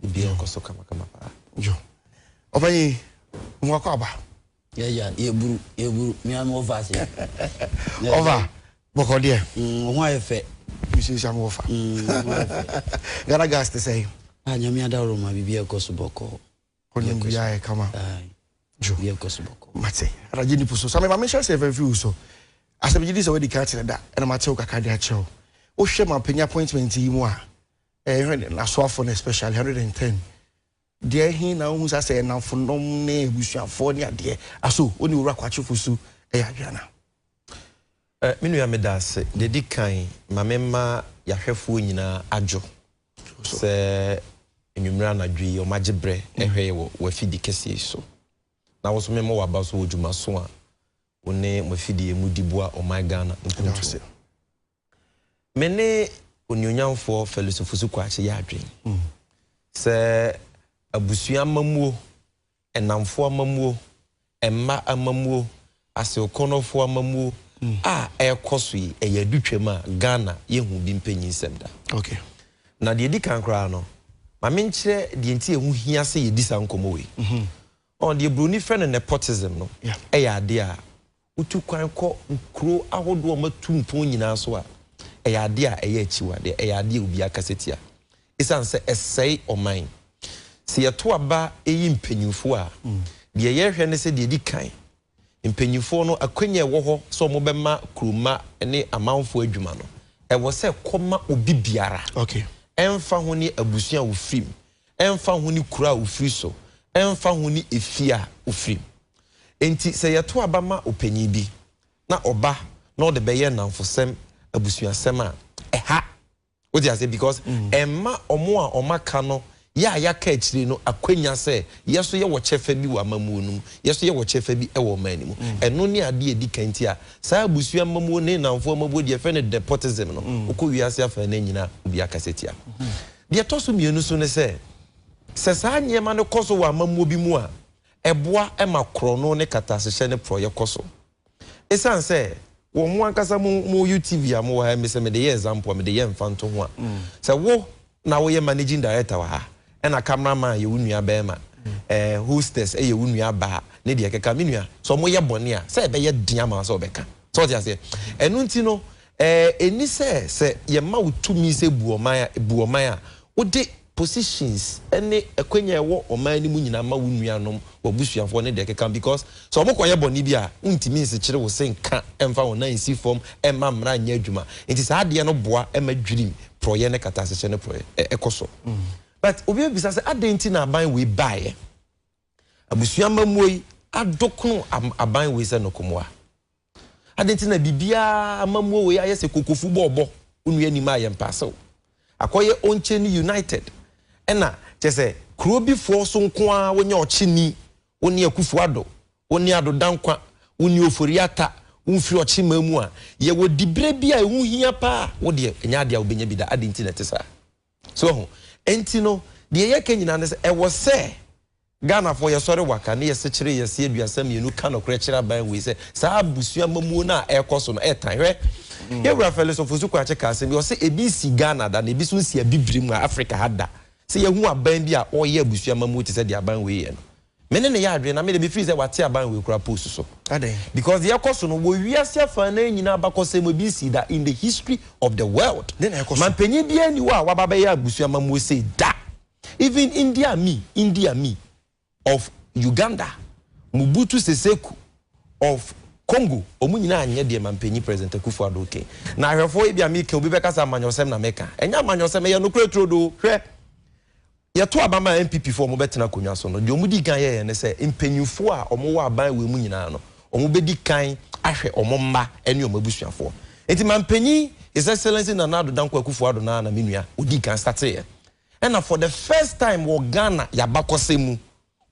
obiara nkɔ so kamakama paa jo ɔpanyin mo akɔ aba yɛya yɛburu yɛburu mea me wɔfa ase ɔfa bɔkɔ deɛ mm, ho ayɛ fɛ mesusa me wɔfa mm, gara gas te sɛ a ah, nyame adaworo ma biribi ɛkɔ so bɔkɔɔ ɔnim biaa ɛkama jo biribi ɛkɔ so bɔkɔɔ mate adagye nipo so sa mema mehyɛ sɛ ɛfɛ mfi wo so asɛm gye di sɛ wadi ka kyerɛ da ɛna matew kakra de akyerɛ wo wohwɛ ma panya appointment yi mu a Ɛyɛ dɛn n'asoafo no especially hundred and ten deɛ he na wohu sa sɛ nnamfonom ne abusuafoɔ ne adeɛ aso wo ne Owura Kwakye Fosu yɛ adwene anaa? Eh, me nua meda ase. Deɛ di kan ma me mma yɛahwɛfoɔ nyinaa adwo sɛ anwummerɛ anadwo yi wɔagye berɛ hwɛ yɛ wɔ w'afidie kɛseɛ yi so. Na wo nso me mmɔ w'aba so wɔ dwumaso a wo ne mo afidie mu de boa ɔman Ghana mpuntuo. Me ne Onuonyamfoɔ Felix Ofosu-Kwakye yɛ adwene sɛ abusua amammuo, nnamfoɔ amammuo, mma amammuo, Aseokonofoɔ amammuo a ɛrekɔ so yi, ɛyɛ adutwam a Ghana yɛnhuu bi mpanyinsɛm da. Na deɛ ɛdi kan koraa no, ma menkyerɛ deɛ nti a ɛho hia sɛ yɛdi saa nkɔmmɔ wei. Deɛ Buroni frɛ no nepotism no yɛ adeɛ a Wotu kwan kɔ nkuro ahodoɔ a wɔatu mpɔn nyinaa so a, ɛyɛ adeɛ a ɛyɛ akyiwadeɛ, ɛyɛ adeɛ a obiara kasa tia ɛsiane sɛ ɛsɛe ɔman. Sɛ yɛto aba yi mpanimfoɔ a, deɛ yɛhwɛ ne sɛ deɛ ɛdi kan, mpanimfoɔ no akwanya a ɛwɔ hɔ sɛ wɔbɛma kuromma ne amanfoɔ adwuma no, ɛwɔ sɛ kɔma obi biara, ɛmfa ho ne abusua a ɔfiri mu, ɛmfa ho ne kuro a ɔfiri so, ɛmfa ho ne efie a ɔfiri mu. Enti sɛ yɛto aba ma ɔpanyin bi na ɔba na ɔde bɛyɛ nnamfosɛm abusuasɛm a, ɛha. Wote aseɛ? Because ɛmma wɔn a wɔaka no, yɛ a yɛaka akyire no akwanya sɛ yɛ nso yɛwɔ kyɛfa bi wɔ amammuo no mu, yɛ nso yɛwɔ kyɛfa bi wɔ ɔman no mu. Ɛno ne adeɛ a ɛdi kan. Nti a saa abusua amammuo ne nnamfoɔ amammuo deɛ yɛfrɛ no nepotism no, wokɔ wiase afanan nyina a, obiara akasa tia. Deɛ ɛtɔ so mmienu nso ne sɛ, sɛ saa nneɛma no kɔ so wɔ amammuo bi mu a, Ɛboa ma korɔno ne kataasehyɛ ne porɔeɛ kɔ so. Ɛsiane sɛ wɔ mo ankasa mo mo UTV a mowɔ ha yi me sɛ mede yɛ example a mede yɛ mfantoho a, sɛ wo na woyɛ managing director wɔ ha ɛna camera man yɛ wo nua barima, eh, hostess yɛ wo nua baa ne deɛ ɛkeka, me nua, sɛ wɔyɛ bɔne a, sɛ ɛbɛyɛ den ama wo sɛ wobɛka. So wote aseɛ? Ɛno nti no, eh, ɛnni sɛ sɛ yɛma wo tumi sɛ bu ɔman a, bu ɔman a, wode positions ne akwanya a ɛwɔ ɔman no mu nyinaa ma wo nuanom, w'abusuafoɔ ne deɛ ɛkeka ho because sɛ wɔkɔyɛ bɔne bi a wontumi nsekyere wo se nka mfa wo nan nsi fam mma mmara nyɛ adwuma nti saa adeɛ no boa ma dwirim porɔeɛ ne kataasekyɛ ne porɔeɛ kɔ so. But obi bɛbisa sɛ adɛn nti na aban wei baeɛ? Abusua amammuo yi adokno aban wei sɛ nokomoa. Adɛn nti na biribiara amammuo wei ayɛ sɛ kokofu bɔɔlbɔ onua nim a yɛmpɛ asew akɔyɛ ɔnkye ne united ɛna kyɛsɛ kuro bi foɔ so nko ara wonyɛ ɔkye ni wo ne akufo ado wo ne ado dankwa wo ne ofori ata wo mfiri ɔkye man mu a yɛwɔ dibrɛ bi a ɛho hia paa wo deɛ ɛnyɛ adeɛ a wobɛnya bi da adɛn nti na ɛte saa. So wahu? Enti no, deɛ yɛka nyinaa ne sɛ, ɛwɔ sɛ Ghanafoɔ yɛsɔre waka ne yɛsekyere yɛse aduasa mmienu ka nokorɛ kyerɛ aban wei sɛ saa abusua amamuo no a ɛrekɔ so no ɛtan. Hwɛ, yɛn Wura Fɛlɛs Ofosu-Kwakye kaa asɛm bi, ɔse ebi nsi Ghana da, na ebi nso nsi Abibirem a Afrika ha da, sɛ yɛahu aban bi a ɔreyɛ abusua amamuo te sɛ deɛ aban wei yɛ no. Me ne no yɛ adwene na me deɛ me feel sɛ wate aban wei koraa post so. Adɛn? Because deɛ ɛkɔ so no wɔ wiase afaa nan nyinaa abakɔsɛm mu ebi nsii da in the history of the world. Dɛn na ɛkɔ so? Mampanyin biara nni hɔ a waba abɛyɛ abusua amammuo sei da. Even Idi Amin, Idi Amin of Uganda, Mobutu Seseku of Congo wɔn nyinaa anyɛ deɛ Mampanyin President Akuffo Addo reka yi. Na ahwɛfoɔ ebia meka obi bɛka sɛ amanyɔsɛm na meka. Ɛnyɛ amanyɔsɛm ɛyɛ nokorɛ turodoo. Hwɛ! Yɛto aba ma NPP foɔ a wɔbɛtena akonnwa so no, deɛ wɔdi kan yɛeɛ ne sɛ mpanyinfoɔ a wɔwɔ aban wei mu nyinaa no, wɔbɛdi kan ahwɛ wɔn mma ne wɔn abusuafoɔ. Nti mampanyin His Excellency Nana Addo Dankwa Akufo-Addo no ara na me nua ɔdii kan starteeɛ. Ɛna for the first time wɔ Ghana yɛabakɔsɛm mu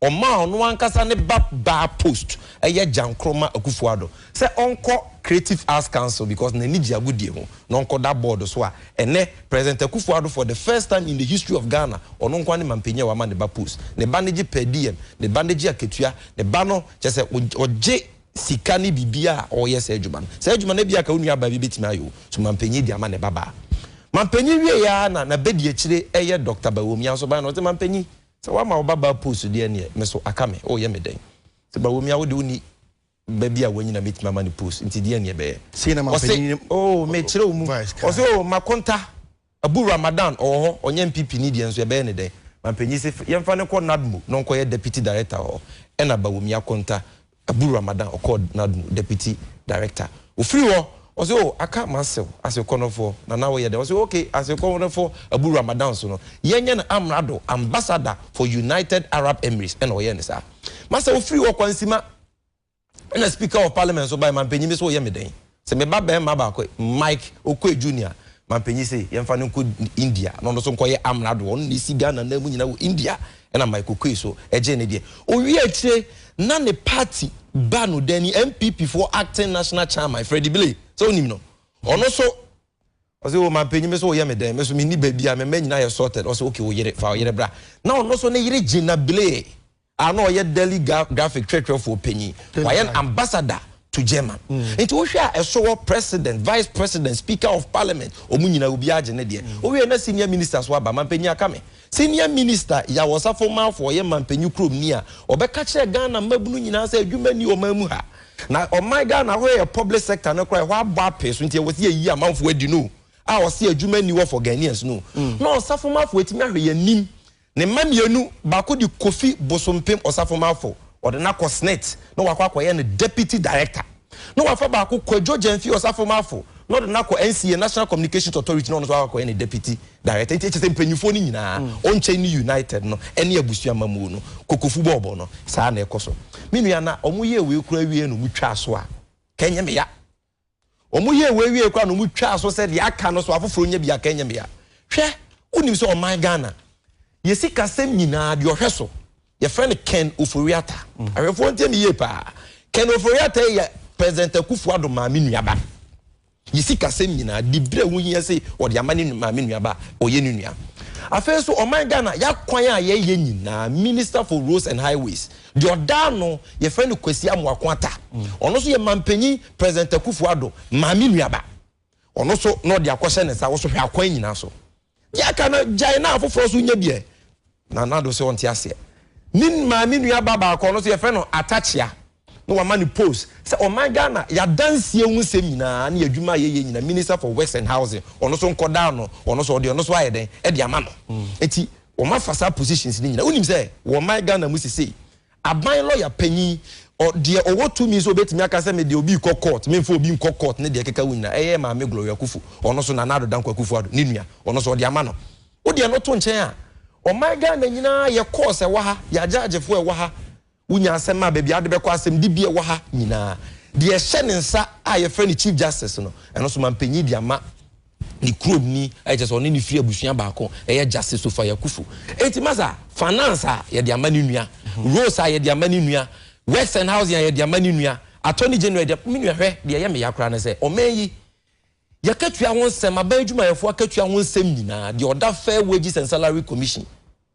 Ɔmaa ɔno ankasa ne ba baa post ɛyɛ agyankorɔ ma Akufo Addo sɛ ɔnkɔ Creative Arts Council because n'ani gye agodie ho na ɔnkɔ da board so a ɛnɛ President Akufo Addo for the first time in the history of Ghana ɔno nkoa ne mampanyin a wama ne ba post ne ba no gye per diem ne ba no gye akatua ne ba no kyerɛ sɛ ɔgye sika ne biribiara a ɔreyɛ saa adwuma no saa adwuma no ebia ka wo nua baa bi bɛtumi ayɛ o so mampanyin de ama ne ba baa mampanyin wieɛ ara na n'abadiakyire ɛyɛ Doctor Bawumia nso baeɛ na ɔse mampanyin Sɛ woama wo babaa post deɛ neɛ me so aka me, woyɛ me dɛn? Sɛ Bawumia a wode wonni ba bi a wanyin a mɛtumi ama no post nti deɛ neɛ bɛyɛ? Ɔse ooh mekyerɛ wo mu, ɔse ooh Makonta, Abu Ramadan ɔwɔ hɔ ɔnyɛ NPP ni deɛ nso yɛbɛyɛ no dɛn? Mampanyin se yɛmfa no nkɔ NADMO na ɔnkɔyɛ Deputy Director hɔ ɛna Bawumia Konta Abu Ramadan ɔkɔɔ Nadmu Deputy Director. Ɔfiri hɔ, ɔse oh aka m'asew asew kɔnɔfoɔ na na woyɛ dɛn? Ɔse ok asew kɔnɔfoɔ Abu Ramadan so no yɛnyɛ no amrado, ambassador, for United Arab Emirates ɛna ɔyɛɛ no saa. Masa ɔfiri hɔ kwansima ɛna Speaker of Parliament nso bae mampanyin bi so woyɛ me dɛn? Sɛ me ba barima baako, Mike Okoe Junior, ma mpanyin se yɛmfa no nkɔ India na ɔno nso nkɔyɛ amrado. Ɔno na esi Ghana anan mu nyinaa wɔ India, ɛna Mike Okoe so gyee ne deɛ. Owiee akyire na ne party ba no dani, NPP foɔ acting national chairman, Freddie Billy, sɛ wonim no, ɔno nso, ɔse o mampanyin me so woyɛ me dɛn, me nso menni baabiara, me mma nyinaa yɛ sorted, ɔse okay wo yere, fa wo yere bra. Na ɔno nso ne yere Gina Billy. a na ɔyɛ Delhi graphic kyerɛkyerɛfoɔ panin, wayɛ no ambassador to German. Nti wohwɛ a ɛso wɔ President, Vice President, Speaker of Parliament, wɔn nyinaa obiara gye ne deɛ. Wowie na Senior Ministers nso aba, Mampanyin aka me. Senior Minister Yaw Ɔsafo Marfo ɔyɛ Mampanyin Kuromni a ɔbɛka kyerɛ Ghana mmabunu nyinaa sɛ adwuma nni ɔman mu ha. Na ɔman Ghana ahorow yɛ public sector no koraa ɛhɔ abɔ apee so nti ɛwɔ sɛ yɛyi amanfoɔ adi no a ɔse adwuma nni hɔ for Ghanaians no. Na Ɔsafo Marfo atumi ahwɛ yɛn anim Ne mma mmienu, baako de Kofi Bosompem Osafo-Marfo, wɔde no akɔ Snit na wakɔ akɔyɛ no Deputy Director, na wafa baako Kwadwo Gyamfi Osafo-Marfo na ɔde no akɔ NCA, National Communications Authority, na ɔno nso akɔ akɔyɛ no Deputy Director. Nti kyesɛ mpanyinfoɔ no nyinaa, ɔnkyɛn ne United no ɛne abusua amamuo no, kokofu bɔɔbɔ no, saa na ɛkɔ so. Me nua na wɔyɛɛ wei koraa wieɛ na wɔtwaa so a, nka ɛnyɛ me ya. Wɔyɛɛ wei wiei koraa na wɔtwaa so sɛ deɛ aka no so afoforɔ nya bi a, ka ɛnyɛ mmea. Hwɛ, wonim sɛ ɔman Ghana, yɛ sikasɛm nyinaa deɛ ɔhwɛ so, yɛfrɛ no Ken Ofori-Atta. Ahwɛfoɔ ntie me yie paa. Ken Ofori-Atta yi yɛ President Akufo-Addo maame nuaba. Yɛ sikasɛm nyinaa, de berɛ a ɛho hia sei, ɔde ama ne maame nuaba, ɔyɛ ne nua. Afei nso, ɔman Ghana, yɛ akwan a yɛyɛ nyinaa, Minister for Roads and Highways, Deɛ ɔda ano, yɛfrɛ no Kwesi Amoako Attah. Ɔno nso yɛ mampanyin President Akuffo Addo maame nuaba. Ɔno nso na ɔde akɔhyɛ ne nsa, wo nso hwɛ akwan nyinaa so. Deɛ aka no gyae na afoforɔ nso nyɛ bi ɛ. Nana Addo sɛ ɔnte aseɛ. Ne maame nuaba baako, ɔno nso yɛfrɛ no Attah Kyea. Na wama no post sɛ ɔman Ghana, y'adansie ho nsɛm nyinaa ne y'adwuma a yɛyɛ nyinaa, Minister for Works and Housing. Ɔno nso nkɔda ano, ɔno nso ɔde ɔno nso ayɛ dɛn de ama no. Enti. wɔn afa saa positions no nyina wonim sɛ wɔ ɔman Ghana mu sesei aban lɔya panyin ɔ deɛ ɔwɔ tumi sɛ obetumi aka sɛ me deɛ obi kɔ court memfa obi nkɔ court ne deɛ ɛkeka wo nyina ɛyɛ maame Gloria Akuffo ɔno so Nana Addo Dankwa Akuffo Addo ne nua ɔno so ɔde ama no wodeɛ no to nkyɛn a ɔman Ghana nyinaa yɛ courts ɛwɔ ha yɛ agyaagyefo ɛwɔ ha Wonya asɛm a baabi a wode bɛkɔ asɛm dibea wɔ ha nyinaa. Deɛ ɛhyɛ ne nsa a yɛfrɛ no Chief Justice no, ɛno nso mampanyin de ama ne kurom ni, a ɛkyerɛ sɛ ɔne no firi abusua baako, ɛyɛ Justice Sophia Akuffo. Enti masa, Finance a yɛde ama ne nua, Roads a yɛde ama ne nua, Works and Housing a yɛde ama ne nua, Attorney General a yɛde ama, me nua hwɛ, deɛ ɛyɛ me ya koraa ne sɛ, ɔman yi, yɛakatua ho nsɛm, aban adwumayɛfoɔ akatua ho nsɛm nyinaa, deɛ ɔda Fair Wages and Salary Commission,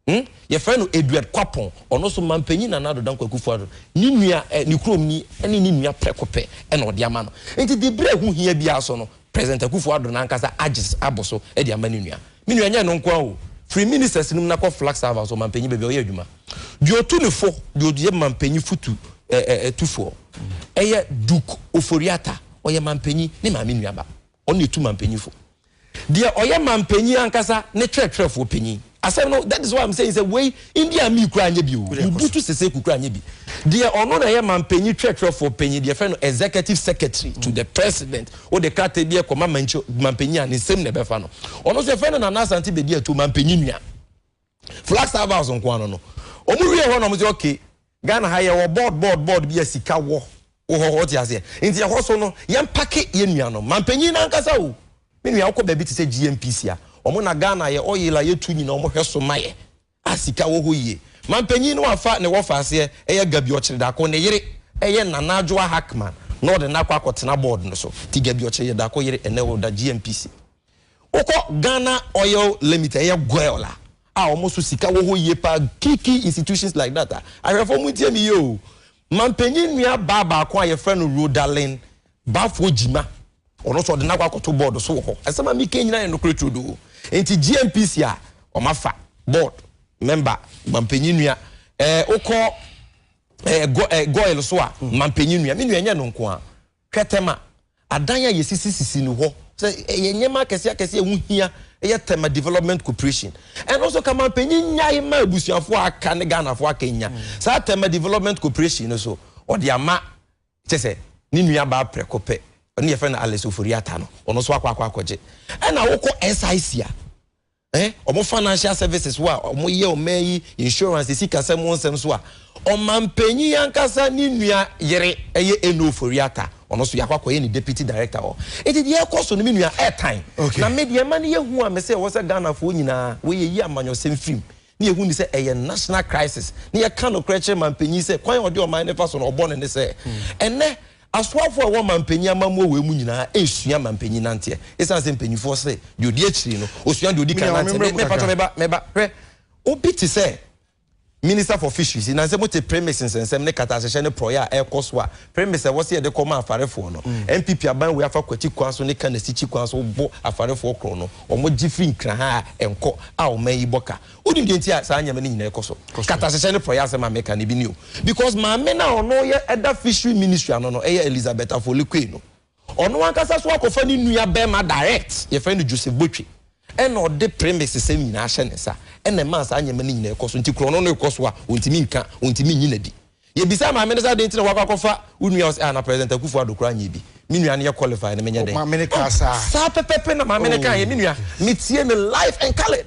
Hmm? Yɛfrɛ no Eduard Kwapon, ɔno nso mampanyin Nana Addo Dankwa Akufo-Addo, ne nua eh, ne kurom ni ne ne nua prɛko pɛ na ɔde ama no. Nti de bere a ɛho hia biara so no, President Akufo-Addo no ankasa agye abo so de ama ne nua. Me nua, ɛnyɛ ɛno nko ara o. Firi ministers no mu na kɔ Flag Server nso, ɔmampanyin baabi a ɔyɛ adwuma. Deɛ ɔtu no fo, deɛ ɔyɛ mampanyin fotu eh, eh, tufoɔ, ɛyɛ Duke Ofori-Atta, ɔyɛ mampanyin, ne maame nuaba. Ɔno na etu mampanyinfo. Deɛ ɔyɛ mampanyin ankasa ne twerɛtwerɛfoɔ panyin. Asɛm no, that is why I'm saying sɛ wei India mii koraa nyɛ bi o, Mobutu Sese Ku koraa nyɛ bi. Deɛ ɔno na ɛyɛ mampanyin twerɛtwerɛfoɔ panyin, deɛ yɛfrɛ no executive secretary to the president, wode krataa bi kɔma manchi mampanyin a ne nsam na ɛbɛfa no. Ɔno nso yɛfrɛ no Nana Asante Bedi Atuo, mampanyin nua. Flagstaff House nko ano no wɔn wie hɔ na wɔn sɛ ok Ghana ha yɛwɔ board board board bi a sika wɔ wɔ hɔ ɔte aseɛ nti ɛhɔ so no yɛn pake yɛn nua no mampanyin nankasa o me nua ɔkɔ baabi te sɛ GNPC a wɔn na Ghana yɛ oil a yɛtu nyina wɔn hwɛ so ma yɛ a sika wɔ hɔ yie mampanyin no afa ne wɔfa aseɛ ɛyɛ Gabi Ɔkyeredako ne yere ɛyɛ Nana Adwoa Hackman na ɔde no akɔ akɔtena board no so ti Gabi Ɔkyeredako yere ɛnɛ ɔda GNPC. Wokɔ Ghana Oil Limited, ɛyɛ Goil a, a wɔn so sika wɔ hɔ yie paa, key key institutions like that a, ahwɛfoɔ mo ntie me yie o, mampanyin nua baa baako a yɛfrɛ no Rodalyn Bafoɔ Gyima, ɔno nso ɔde no akɔ akɔto board so wɔ hɔ. Asɛm a meka nyinaa yɛ nokorɛ turodoo. Nti GNPC a, wɔn afa board member mampanyin nua. Ɛɛ wokɔ ɛɛ Goil so a, mampanyin nua. Me nua ɛnyɛ ɛno nko ara. Twɛtɛm a adan a yɛsisi sisi no hɔ sɛ ɛyɛ nneɛma akɛseɛ akɛseɛ a ɛho hia yɛ Tema Development Cooperation. Ɛno nso Kaman panyin nyae ma abusuafoɔ a aka ne Ghanafoɔ aka anya saa Tema Development Cooperation no so ɔde ama kyɛ sɛ ne nua baa prɛko pɛ ɔne yɛfrɛ no Alice Ofori-Atta no ɔno nso akɔ akɔ akɔgye. Ɛna wokɔ SIC a Eh wɔn financial services wo a wɔn yɛ ɔman yi insurance sikasɛm ho nsɛm so a ɔmanpanyin ankasa ne nua yere ɛyɛ Eno Ofori Atta ɔno nso yɛakɔ akɔyɛ ne deputy director hɔ nti deɛ ɛkɔ so no me nua ɛtan na me deɛ ɛma no yɛ hu a me sɛ ɛwɔ sɛ Ghanafoɔ nyinaa wei yɛyi amanyɔsɛm firi mu Ne yɛhu no sɛ ɛyɛ national crisis. Ne yɛka nokorɛ kyerɛ manpanyin sɛ kwan a ɔde ɔman no fa so no ɔbɔ no ne sɛ ɛnnɛ asoafoɔ a ɛwɔ manpanyin amammuo wei mu nyinaa ɛresua manpanyin nanteɛ ɛsiane sɛ mpanyinfoɔ se deɛ ɔdi akyiri no ɔsua deɛ ɔdi kan nanteɛ. Me mpakyɛ meba meba hwɛ obi te sɛ minister for fisheries nanse mote premix nsɛnsɛm ne kata hyehyɛ ne porɔeɛ a ɛrekɔ so a Premix a ɛwɔ sɛ yɛde kɔma afarefoɔ no, NPP aban wei afa Kwati kwan so ne Kana Sikyi kwan so bo afarefoɔ korɔ no, wɔgye firi nkraha a ɛnkɔ a ɔman yi bɔ ka. Wonim deɛ nti a saa nneɛma no nyinaa ɛkɔ so? Katahyehyɛ ne porɔeɛ asɛm a meka no, ebi ni o. Because maame no a ɔno yɛ ɛda Fishery Ministry ano no, ɛyɛ Elizabeth Afolikue no, Ɔno ankasa nso akɔfa ne nua barima direct, yɛfrɛ no Joseph Botwe, ɛna ɔde premises sɛm nyinaa hyɛ ne nsa, ɛna ɛmaa saa nneɛma no nyinaa ɛkɔ so. Nti korɔno no rekɔ so a, ɔntumi nka, ɔntumi nyi no adi. Yɛbisaa maame no sɛ, adɛn nti na woakɔ akɔfa wo nua? Ɔse, ah, na President Akuffo Addo koraa nyɛɛ bi. Me nua no yɛ qualified no, menyɛ Oh, dɛn? maame no kaa Oh, saa? saa pɛpɛpɛ na maame no kaeɛ, me nua, Oh, Jesus. metie no live and coloured.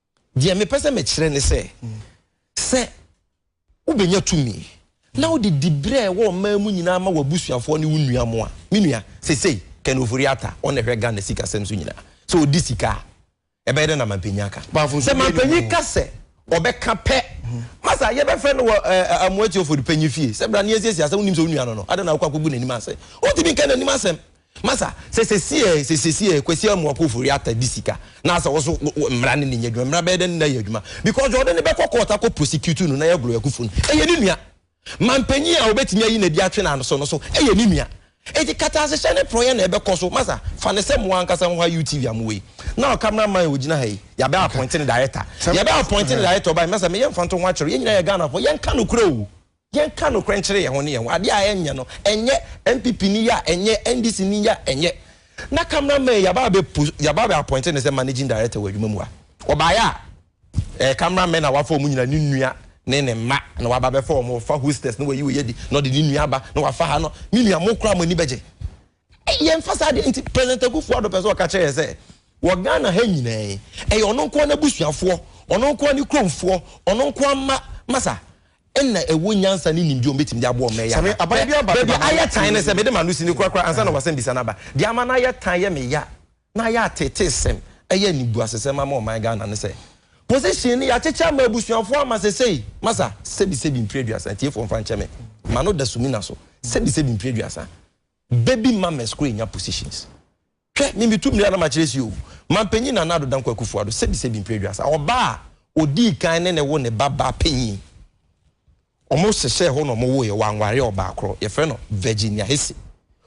Deɛ mepɛ sɛ mekyerɛ ne sɛ, sɛ wobɛnya tumi na wode diberɛ a ɛwɔ ɔman mu nyinaa ma w'abusuafoɔ ne wo nua mo a, me nua, sesei Ken Ofori Atta, ɔno na ɛhwɛ Ghana sikasɛm so nyinaa, sɛ ɔdi sika a, ɛbɛyɛ dɛn na mampanyin aka? Sɛ mampanyin ka sɛ ɔbɛka pɛ, masa yɛbɛfrɛ no wɔ Amoa Tiofold panyin fie sɛ bra na yɛnsiesie asɛm, wonim sɛ wo nua no no, adɛn na wokɔ akɔgu n'anim ase? Wontumi nka n'anim asɛm, Masa, sɛ sesie sɛ sesie Kwasi Amoako Ofori Atta di sika na sɛ wo so wo mmara no ne nyɛ adwuma, mmara bɛyɛ dɛn ne no ayɛ adwuma? Because deɛ ɔde no bɛkɔ court akɔ prosecute no, Naya Glory Akuffo no, ɛyɛ ne nua. Manpanyin a ɔbɛtumi ayi no adi atwe no ano so no so, ɛyɛ ne nua. Enti katasehyɛ ne porɔeɛ na ɛbɛkɔ so. Masa, fa no sɛ mo ankasa ho ha UTV a mo wɔ yi. Now camera man a ɔgyina ha yi, yɛabɛ appoint no director. Yɛbɛ appoint no director ɔba yi, Masa, meyɛ mfantoho akyerɛ wo, yɛn nyinaa yɛ Ghanafoɔ, yɛnka nokorɛ o. Yɛnka nokorɛ nkyerɛ yɛn ho ne yɛn ho, adeɛ a ɛnyɛ no ɛnyɛ, NPP ni yɛ a ɛnyɛ, NDC ni yɛ a ɛnyɛ. Na camera man yi yɛaba abɛ post, yɛaba abɛ appoint no sɛ managing director wɔ adwuma mu a, ɔbaeɛ a ɛyɛ camera men a wafa wɔn nyinaa, ne nua ne ne mma na waba abɛfa wɔn, ɔfa hostess na wayi wei adi na ɔde ne nua aba na wafa ha no, me nua mo koraa mo ani bɛgye. Yɛmfa saa deɛ nti President Akufo Addo pɛ sɛ ɔka kyerɛ yɛn sɛ wɔ Ghana ha nyinaa yi, ɛyɛ ɔno nko ara n'abusuafoɔ, ɔno nko ara ne kuromfoɔ, ɔno nko ara mma masa ɛna ɛwɔ nyansa ne nimdeɛ a wɔbɛtumi de aboa wɔn ɛyɛ ama. Baabi ayɛ tan no sɛ mede m'ano sini korakora ansa na w'asɛmbisa no aba. Deɛ ama no ayɛ tan yɛ me ya na ayɛ ateetesɛm ɛyɛ animguasesɛm ama ɔman Ghana ne sɛ position no yɛakyekyɛ ama abusuafoɔ ama sesei masa sɛbisɛbi mfiri aduasa atiefoɔ mfa nkyɛ me m'ano da sumina so sɛbisɛbi mfiri aduasa Baby mamas koraa nya positions. Hwɛ me metu mmiri a na makyerɛ si o. Mampanyin Nana Addo Dankwa Akufo-Addo, Sebi Sebi Mpire Aduasa, ɔbaa a odii kan ne ne wo ne ba baa panyin. Wɔn hyehyɛɛ hɔ na wɔn woeɛ, wɔanware ɔbaa koro, yɛfrɛ no Virginia Hesse.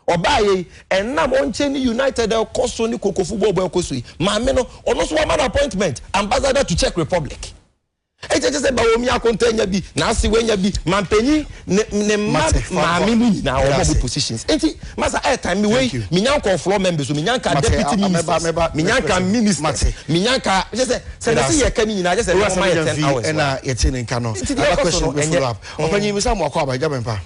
Ɔbaaeɛ yi, ɛnam ɔnkyɛ ne United ɛrekɔ so ne Koko football bɔ ɛrekɔ so yi, maame no, ɔno nso wɔama no appointment, Ambassador to Czech Republic. Enti ɛkyerɛ sɛ Baomia akonta nya bi, n'ase wanya bi, mampanyin, ne ne mma maame mu nyinaa wɔn ɔmo positions. Enti masa ɛyɛ time me wei me nya nkɔɔ floor members o, me nya nka deputy ministers, me nya nka ministers, me nya nka kyerɛ sɛ sɛ na ɛsɛ yɛ ka ne nyinaa kyerɛ sɛ na wɔn ayɛ ten hours wa. Enti deɛ ɛkɔ so no ɛnyɛ. Ɔpanyin misa mo akɔ aba agya bɛn pa.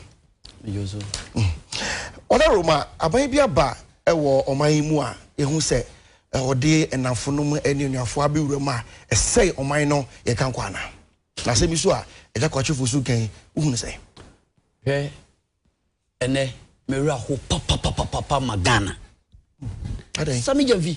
Ɔda Roma aban bi aba wɔ ɔman yi mu a yɛhu sɛ ɔde ɛnafonom ne onuafoɔ abɛwura mu a ɛsɛe ɔman no yɛ ka nkwa anaa? Na asɛm yi so a Agya Kwakyefoɔ so ka yi, wohunu sɛn? Hwɛ ɛnɛ me werɛ aho papapapapa ma Ghana. Adɛn? Sami Gyamfi.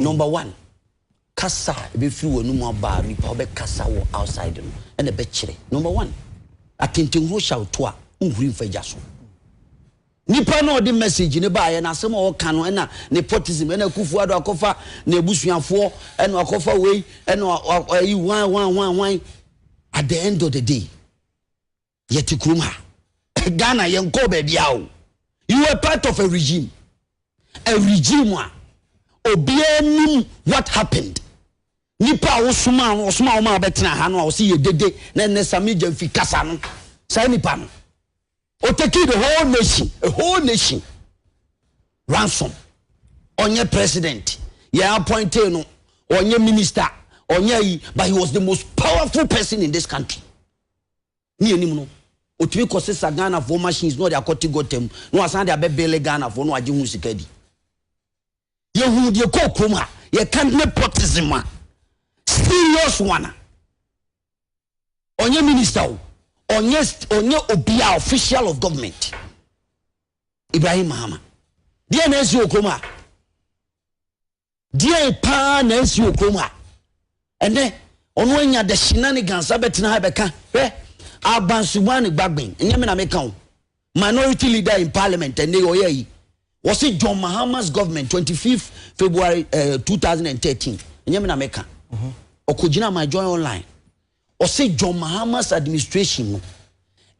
Number one, kasa a ɛbɛfiri w'anomu aba a nipa wobɛkasa wɔ outside no na ɛbɛkyerɛ. Number one, atentenhuro hyɛ wo to a, wonhuri mfa gya so. Nipa no a ɔde message no baeɛ no, asɛm a ɔka no, ɛna nepotism, ɛna Akufo Addo akɔfa n'abusuafoɔ, ɛna wakɔfa wei, ɛna wa, wa, ayi hwan, hwan, hwan, hwan. At the end of the day, Yɛte kurom ha. Ghana yɛnkɔɔ baabiara o. You were part of a regime. A regime a obiara nim what happened. Nipa a wosomaa no, ɔsomaa wɔn a wɔbɛtena ha no a ɔsi yɛ dede na ɛnɛ Sammy Gyamfi kasa no. Saa nipa no. Oteki the whole nation, a whole nation. Ransom. Ɔnyɛ president. Yɛn appointee no. Ɔnyɛ minister. Ɔnyɛ yi. But he was the most powerful person in this country. ne anim no, ɔtumi kɔsesa Ghanafoɔ machines na ɔde akɔte gɔta mu na wasan de abɛbele Ghanafoɔ na wagye ho sika di. Yɛhuu deɛ kɔɔ kurom a yɛka nepotism a serious one a ɔnyɛ minister o ɔnyɛ ɔnyɛ obia official of government Ibrahim Mahama deɛ na ɛsi wɔ kurom a Deɛn paa na asi wɔ kurom a ɛnɛ ɔno anya da hyina ne gansa bɛtena ha bɛka hwɛ abansumaa ne gbagben ɛnyɛ me na meka wo minority leader in parliament ɛnɛ yɛ ɔyɛ yi wɔse John Mahama's government 25 February uh, eh, 2013 ɛnyɛ me na meka mhm. ɔkɔgyina my join online ɔse John Mahama's administration no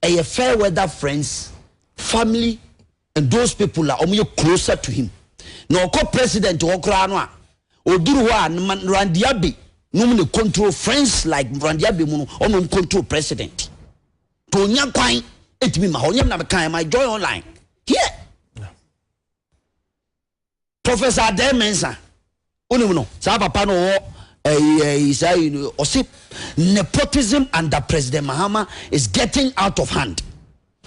ɛyɛ fair weather friends family And those people a wɔyɛ closer to him na ɔkɔ president hɔ koraa no a ɔduru hɔ a nma Nrandiabe nom na control friends like Nrandiabe mu no ɔnom control president to ɔnya kwan ɛtumi ma hɔ nyɛ na mekaeɛ my joy online here Professor Adair Mensah, wonim no, saa papa no ɔwɔ ɛyi eh, ɛyi eh, saa yi no, ɔsi nepotism under President Mahama is getting out of hand.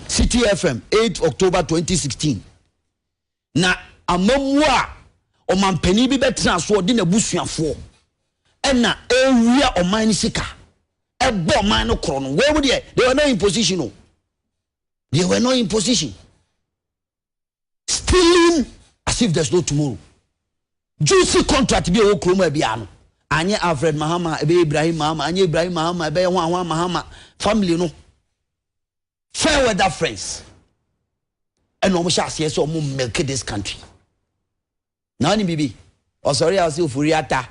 City FM 8 October 2016. Na amamuo a ɔmanpanin bi bɛtena so ɔde n'abusuafoɔ ɛna ewia ɔman no sika ɛbɔ ɔman no korɔ no wɔn mu deɛ they were not in position o they were not in position. stealing as if there's no tomorrow juicy contract bi a ɛwɔ kurom a biara no anyɛ alfred mahama ɛbɛyɛ ibrahim mahama anyɛ ibrahim mahama ɛbɛyɛ ho ahoa mahama family no fair weather friends ɛna wɔn hyɛ aseɛ sɛ wɔn milk this country. Na wonim biribi? Ɔsɔree a ɔse ofori ata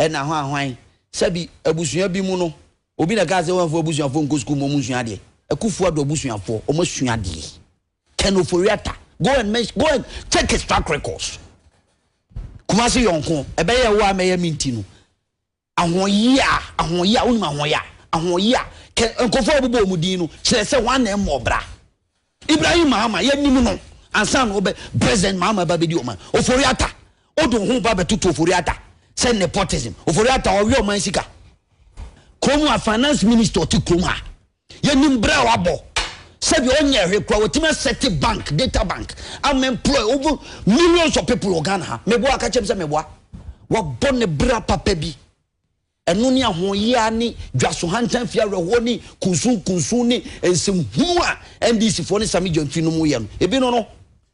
na ahwanhwan. Sɛbi, abusua bi mu no, obi na ɛkaa sɛ wɔmfa abusuafoɔ nkɔ sukuu ma wɔnsua adeɛ. Akufoɔ adɔ abusuafoɔ, wɔasua adeɛ. Ken Ofori-Atta, go and mention, go and check his track records. Kumasi yɔnko, ɛbɛyɛ wo a mɛyɛ me nti no, Ahoɔyea, ahoɔyea, wonim ahoɔyea? Ahoɔyea, kɛ nkurɔfoɔ a wɔbobɔ wɔn din no, kyerɛ sɛ wɔn na mmɔɔ bra. Ibrahim Mahama, yɛnim no ansa na ɔbɛ, President Mahama ba bɛdi ɔman. Ofori Atta, wode wo ho ba bɛtoto Ofori Atta sɛ nepotism. Ofori Atta, ɔwe ɔman sika. Kurom ha, finance minister ɔte kurom ha. Yɛnim bra a wabɔ sɛ deɛ ɔnyɛ hwee koraa watumi asɛte bank, data bank ama employ over millions of people wɔ Ghana ha. Meboa aka kyɛm sɛ meboa. Wabɔ ne bra papa bi. Ɛno ne ahoɔyea ne dwaso hantan fie awerɛhoɔ ne kunsun kunsun ne nsɛmhunu a NDC foɔ ne Sami Gyamfi no mu yɛ no. Ebi no no.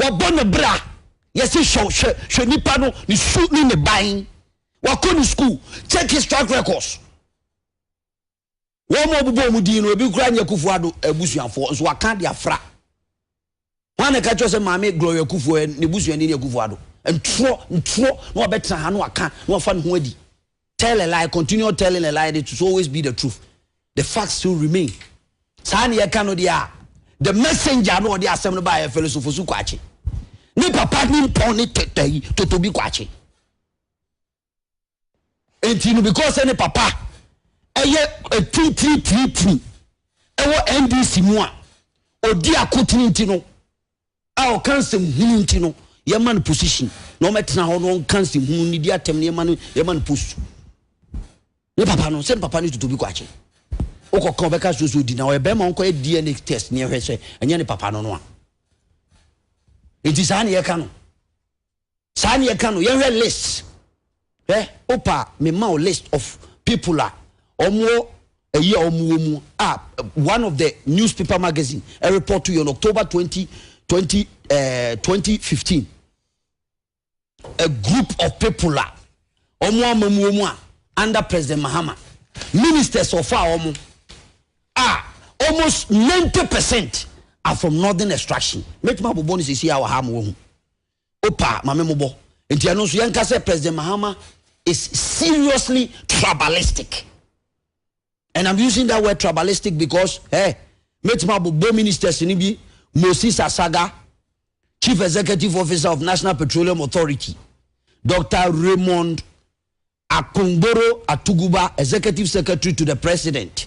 wɔbɔ ne bra yɛsi hwɛ hwɛ hwɛ nipa no ne su ne ne ban wakɔ ne sukuu check his track records wɔn a wɔbobɔ wɔn din no ebi kura nyɛ kufu ado abusuafoɔ nso waka de afra wɔn a na ɛka kyerɛ sɛ maame gloria kufu ɛ ne busuani ne kufu ado ntorɔ ntorɔ na wɔbɛtena ha na waka na wɔfa ne ho adi Tell a lie, continue telling a lie, and it will always be the truth. The fact still remain. Saa ne yɛka no deɛ a, the messenger no ɔde asɛm no baa yɛ fɛlɛsofo so kwakye. Ne papa ne mpɔn ne tɛtɛ yi totobi kwakye. Enti no because sɛ ne papa ɛyɛ ɛtintiri tiritiri ɛwɔ NDC mu a ɔdi akotene nti no a ɔka nsɛm hunu nti no yɛma no position na ɔmɛtena hɔ na ɔnka nsɛm hunu ne di atɛm na yɛma no yɛma no post ne papa no sɛ papa no tutu bi kɔ akyi wokɔ ka ɔbɛka so so di na ɔyɛ bɛrima ɔnkɔ yɛ dna test ne ɛhwɛ sɛ ɛnyɛ ne papa no no a nti saa ne yɛka no Saa ne yɛka no yɛnhwɛ list hwɛ wopa me ma wo list of people a ɔmo ayi a ɔmo wɔ mu a one of the newspaper magazine a report yɛ on October 20 20 uh, 2015 a group of people a ɔmo ama mu wɔ mu a under President Mahama ministers of a ɔmo a almost 90 percent are from northern extraction mɛtumi abobɔ no sisi a wɔ ha ma wɔhu Opa ma me mobɔ. Nti ɛno nso yɛnka sɛ President Mahama is seriously tribalistic. And I'm using that word tribalistic because eh, mɛtumi abobɔ ministers no bi Moses Asaga, Chief Executive Officer of National Petroleum Authority, Dr. Raymond Akpongboro Atuguba, Executive Secretary to the President.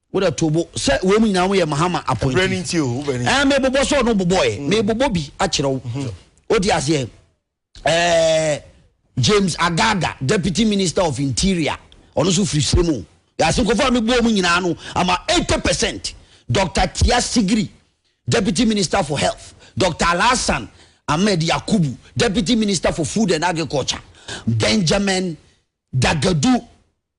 Wo dɛ to bo sɛ weinom nyinaa ho yɛ Mahama appointees. Ɛɛ me bobɔ sɛ ɔno bobɔ ɛ, me bobɔ bi akyerɛ wo. O te aseɛ? Ɛɛ James Agaga, Deputy Minister of Interior, ɔno nso firi serɛ mu o. Yɛase nkɔfo a me bɔ wɔn nyinaa no, ama 80 percent. Doctor Tia Sigiri, Deputy Minister for Health, Doctor Alhassan Ahmed Yakubu, Deputy Minister for Food and Agriculture, Benjamin Dagadu,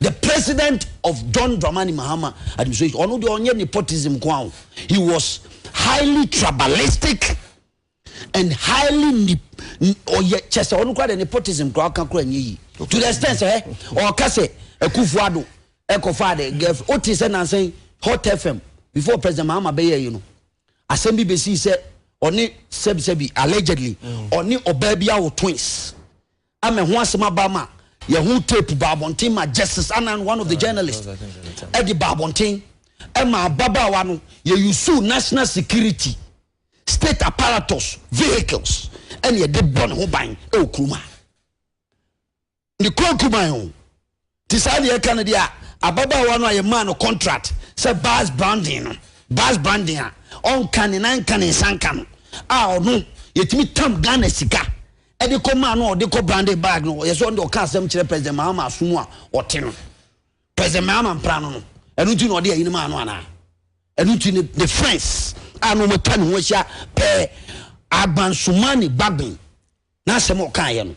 The president of John Dramani Mahama administration, ɔno deɛ ɔnyɛ nepotism ko aho. He was highly tribalistic and highly ɔyɛ kyɛ sɛ ɔno kora deɛ nepotism kora ɔka kora nyɛ yi. To the extent sɛ ɔka sɛ Akufo-Addo ɛkɔfaa de girlfriend. Wote sɛ nansan Hot FM before President Mahama bɛyɛ yi no, asɛm bi bɛsii sɛ ɔne sɛbisɛbi allegedly ɔne ɔbaa bi awo twins. Ama ɛho asɛm aba ama yɛn ho tape baa abɔnten ma Justice Annan, one of the journalists, ɛde baa abɔnten ɛma ababaawa no yɛ usuu national security, state apparatus, vehicles ɛne ɛde bɔ ne ho ban ɛwɔ kurom ha. Ne kɔn kuman o. Te saa deɛ ɛka no deɛ a ababaawa no a yɛmaa no kɔntrat sɛ bars branding no, bars branding a ɔnka ne nan nka ne nsa nka no a ɔno yɛtumi tam Ghana sika de kɔ maa no a ɔde kɔ branded bag no, ɔyɛ sɛ ɔno deɛ ɔka asɛm kyerɛ President Mahama asom a ɔte no. President Mahama mpra no no, ɛno nti na ɔde ayi no maa no anaa? Ɛno nti ne, ne friends a na wɔatwa ne ho ahyia pɛɛ agbansomani Gbagben n'asɛm a ɔkaeɛ no.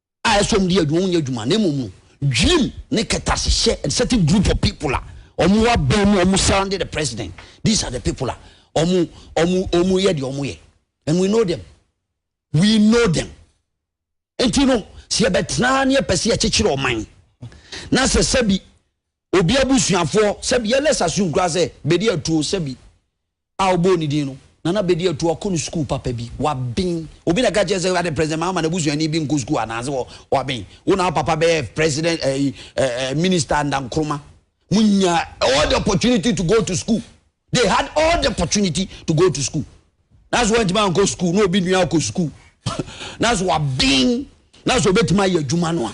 a ɛsɔm di adwuma nyɛ adwuma na mmom no dwirim ne kɛtɛasehyɛ a certain group of people a wɔn aban mu wɔn surrounding the president these are the people a wɔn wɔn wɔn yɛ deɛ wɔn yɛ and we know them we know them nti no sɛ yɛbɛtena ne yɛpɛ sɛ yɛkyekyere ɔman na sɛ sɛbi obi abusuafoɔ sɛbi yɛlɛ sase nkura sɛ bɛdi atuo sɛbi a ɔbɔɔ ne din no, Nana Bedi Atuu akɔ no sukuu papa bi. Waben. Obi na ɛka kyerɛɛ sɛ, Ade, President Mahama n'abusuani bi nkɔ sukuu anaase wɔ, waben. Wo na wo papa bɛyɛ President, eh, eh, eh, Minister and Nkrumah. Mo nyaa all the opportunity to go to school. They had all the opportunity to go to school. Nanso wɔntumi ankɔ sukuu, na obi nua akɔ sukuu. Nanso waben. Nanso obetumi ayɛ adwuma no a.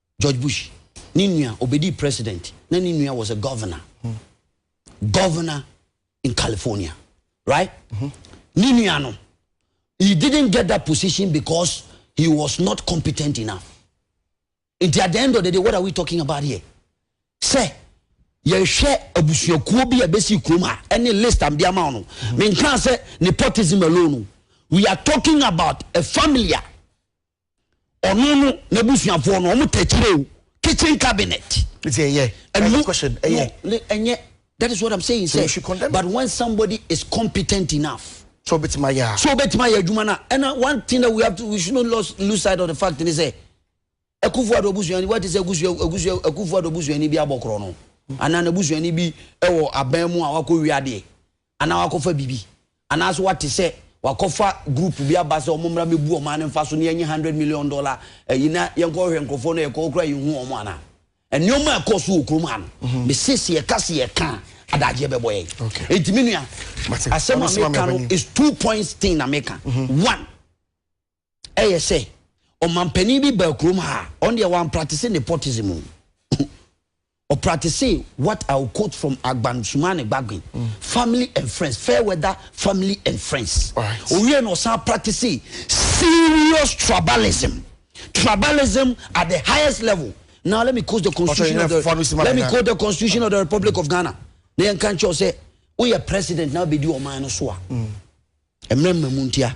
George Bush ne nua obedii president na ne nua was a governor governor in California right mm-hmm. ne nua no he didn't get that position because he was not competent enough nti at the end of the day what are we talking about here sɛ yɛhwɛ abusuakuo bi a ɛbɛsi kurom ha ɛne list am de ama no mm-hmm. menkaa sɛ nepotism alone we are talking about a family a ɔno no n'abusuafoɔ no wɔn tɛkyerɛ o kitchen cabinet. It's a yeah. And no, question. A yeah. No, and yeah. That is what I'm saying. So say, but when somebody is competent enough. So bet my yeah. So bet my yeah. Jumana. And uh, one thing that we have to, we should not lose, lose sight of the fact is say, ekufu ado busu yani. What is ekufu ekufu ekufu ado busu yani bi abokro no. Ana na busu yani bi ewo abamu awako wiade. anaa wakɔfa biribi, anaasɛ wate sɛ wakɔfa group bi aba sɛ wɔn mmra mɛbu ɔman no mfa so na yɛnyɛ hundred million dollar ɛyi na yɛnkɔhwɛ nkurɔfoɔ no yɛkɔ kora yɛhu wɔn anaa nneɛma a ɛkɔɔ so wɔ kurom ha no mhm. mese sɛ yɛka sɛ yɛka adagyeɛ bɛbɔ yɛn ɛnti me nua asɛm a meka no is two points thing na meka mhm. one yɛ sɛ ɔmampanin bi baa kurom ha a ɔno deɛ wampratese nepotism o ɔpratese what i will quote from agbansumane gbagbe mm. family and friends fair weather family and friends owie na ɔsan pratese serious tribalism tribalism at the highest level now let me quote the constitution of the let me quote the constitution of the republic of ghana na yɛn kan kyɛw sɛ woyɛ president na abɛdi ɔman no so a mm. mmerɛ mmamu ntia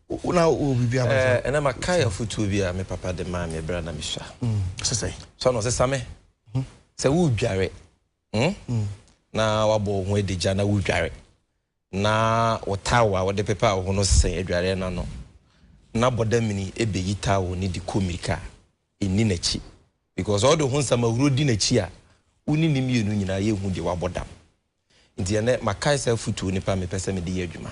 Wo na wowɔ biribi ama Ɛɛ, ɛnɛ makae afotuo bi a me papa de maa me berɛ a na mesua. Ɔse sɛn? So ano, ɔse Same, sɛ woredware hmm, na woabɔ wo ho adagya na woredware, na wo towel a wode pepa wo ho no sɛn adwareɛ no ano, na bɔ damini bɛyi towel no de kɔ mmirika, nni n'akyi. Because sɛ wode wo ho nsamahuro di n'akyi a, wo ne ne mmienu nyinaa yɛnhu deɛ woabɔ dam. Nti ɛnɛ makae saa afotuo no paa mepɛ sɛ mede yɛ adwuma.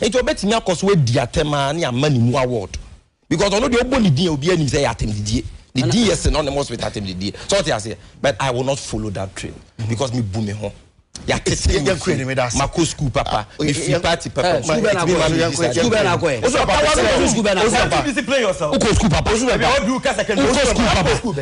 Enti ɔbɛtumi akɔ so adi atɛm ara ne ama ne mu award because ɔno deɛ ɔbɔ ne din a obiara nim sɛ ɛyɛ atɛmdidie. Ne din yɛ synonymous with atɛmdidie. So ɔte aseɛ but I will not follow that trail because me bu me ho. Yɛate sɛ me nsuo, makɔ school papa, me firi party papa, ɛtumi ma me di saa deɛ. Wokɔ school papa? Wokɔ school papa?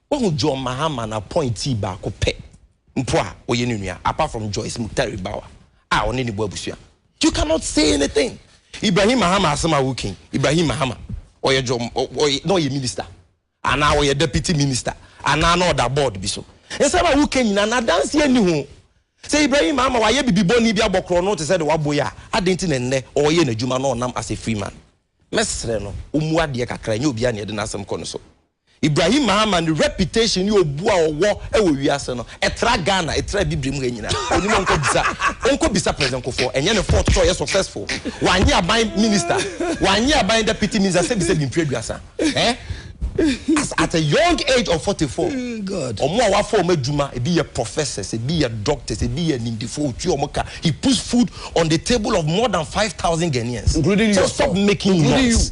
Wahu John Mahama no appointee baako pɛ mpo a ɔyɛ ne nua apart from Joyce Muktari Bawa a ɔne ne bɔ abusua. You cannot say anything. Ibrahim Mahama asɛm a woka yi, Ibrahim Mahama ɔyɛ John ɔyɛ na ɔyɛ minister anaa ɔyɛ deputy minister anaa na ɔda board bi so. Nsɛm a woka nyinaa no adanseɛ nni ho. Sɛ Ibrahim Mahama wayɛ bibi bɔne bi abɔ korɔno te sɛ deɛ wabɔ yi a, adɛn nti na ɛnnɛ ɔreyɛ n'adwuma na ɔnam as a free man? Mɛsrɛ no ɔmmu adeɛ kakra, ɛnyɛ obiara na yɛde n'asɛm kɔ ne so. Ibrahim Mahama ne reputation ne obu a ɔwɔ wɔ wiase no, ɛtra Ghana, ɛtra Abibirem ha nyina. Onim a ɔnkɔ bisa, ɔnkɔ bisa President Kufuor. Ɛnyɛ ne fault sɛ ɔyɛ successful. Wanyɛ aban minister, wanyɛ aban deputy minister sɛbisɛbi mfiri aduasa. Eh? As at a young age of 44, wɔn a wafa wɔn adwuma, ebi yɛ professors, ebi yɛ doctors, ebi yɛ animdefoɔ, ɔtua wɔn ka, he puts food on the table of more than 5,000 Ghanaians. Including yourself. So stop making noise.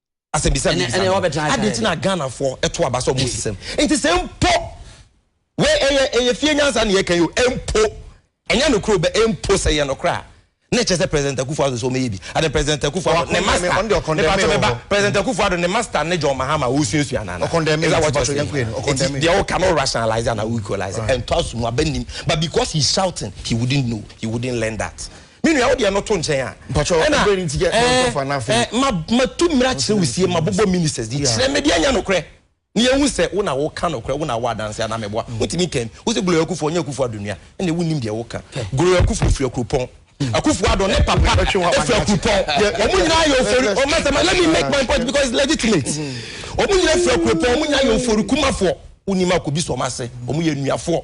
asɛmbisa bi bisa no adi nti na ghana fo ɛto aba sɛ ɔmo sisɛm nti sɛ mpo wei ɛyɛ ɛyɛ fie nyansa na yɛka yi o mpo ɛnyɛ no koro bɛ mpo sɛ yɛ no kora ne kyɛ sɛ president akufo ado sɛ ɔmo yɛ bi adi president akufo ado ne master ne pato bɛ ba president akufo ado ne master ne john mahama o suasua nana ɛza wɔ kyɛ sɛ eti deɛ o ka no rationalize ana o equalize ɛntɔ aso mu abɛ nim but because he shouting he wouldn't know he wouldn't learn that. Me nua wo deɛ no to nkyɛn a. Mpakyɛw ɛdɛn nti yɛ na ɔsɔfo ana afei. Ɛna ma ma tu mmira kyerɛ wo sie ma bobɔ ministers di kyerɛ me deɛ nyɛ nokorɛ na yɛn hu sɛ wo na wo ka nokorɛ wo na wo adanse ana mɛ boa wo ntumi kɛn wo sɛ Gloria Akufuo ɔnyɛ Akufuo Addo nua ɛna wo nim deɛ wo ka Gloria Akufuo firi Akuropɔn Akufuo Addo ne papa firi Akuropɔn ɔmo nyinaa yɛ ofori ɔmo sɛ ma let me make my point because it's legitimate ɔmo nyinaa firi Akuropɔn ɔmo nyinaa yɛ ofori kumafoɔ wo nim akobi so ɔmo ase ɔmo yɛ nnuafoɔ.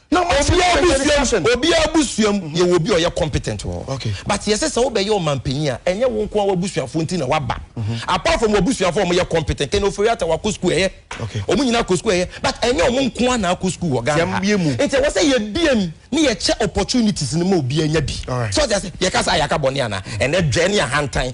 Na wɔn ti Obiara kɛntɛn ne busuam, captain. obiara busuam yɛwɔ obi a ɔyɛ competent wɔ hɔ. Okay. But yɛsɛ sɛ wobɛyɛ ɔmanpanyin a, ɛnyɛ wo nko ara w'abusuafoɔ nti na woaba. Apart from w'abusuafoɔ a wɔyɛ competent, Ken Ofori-Atta wakɔ sukuu ɛyɛ. Okay. Wɔn nyinaa kɔ sukuu ɛyɛ. But ɛnyɛ wɔn nko ara na akɔ sukuu wɔ Ghana ha. Yɛmmue mu. Nti ɛwɔ sɛ yɛbue mu na yɛkyɛ opportunities no ma obiara nya bi. Alright. So ɔte aseɛ? Yɛka saa a yɛaka bɔne anaa? Ɛnɛ dwɛ ne ahantan.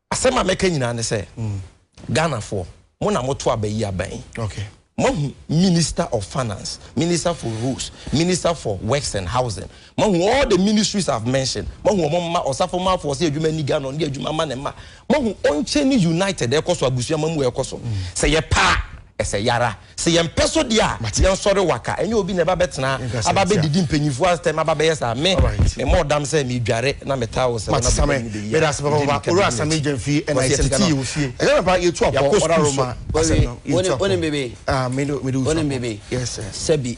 Asɛm a mɛka nyinaa ne sɛ, Ghanafoɔ, mo na moto aba yi aba yi. Moahu Minister of Finance, Minister for Roads, Minister for Works and Housing, moahu all the ministries I have mentioned, moahu wɔn mma, Ɔsafo mma afoɔ sɛ adwuma nni Ghana, ɔno de adwuma ma ne mma. Moahu Onkyene United ɛrekɔ so, abusua mmamu ɛrekɔ so. Sɛ yɛpɛ a, ɛsɛ yɛara. Sɛ yɛmpɛ so deɛ a, yɛnsɔre waka. Ɛnyɛ obi na ɛba bɛtena aba bɛdidi mpanyimfoɔ atɛm aba bɛyɛ saa. Me, memmɔɔ dam sɛ meredware na metaa wo sɛ wo na bɛba no bɛyi a, wogye me cabinet akyi. Wɔse yɛtete yɛn wɔ fie, yɛakɔ sukuu so. Wonim bebe? Wonim bebe? Sɛbi.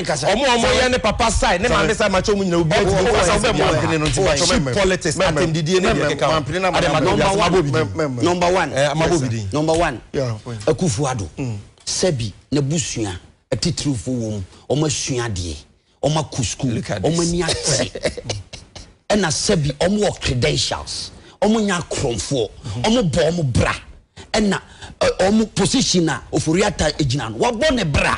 Ɔmo a ɔmo yɛ ne papa side ne maame side makyɛ ɔmo nyinaa obiara tumi kasa ɔbɛ mo a. Cheap politics atɛmdidie ne deɛ ɛkeka ho. Ade ma dɔn wiase mabɔ obi din. Number one ɛɛ mabɔ obi din. Number one Akuffo Addo sɛbi n'abusua atitiriw fo wɔ mu ɔmo asua adeɛ ɔmo akɔ school ɔmo ani agye ɛna sɛbi ɔmo wɔ credentials ɔmo nyɛ akorɔmfoɔ ɔmo bɔ ɔmo bra ɛna ɔmo position a Ofori Atta egyina no wabɔ ne bra.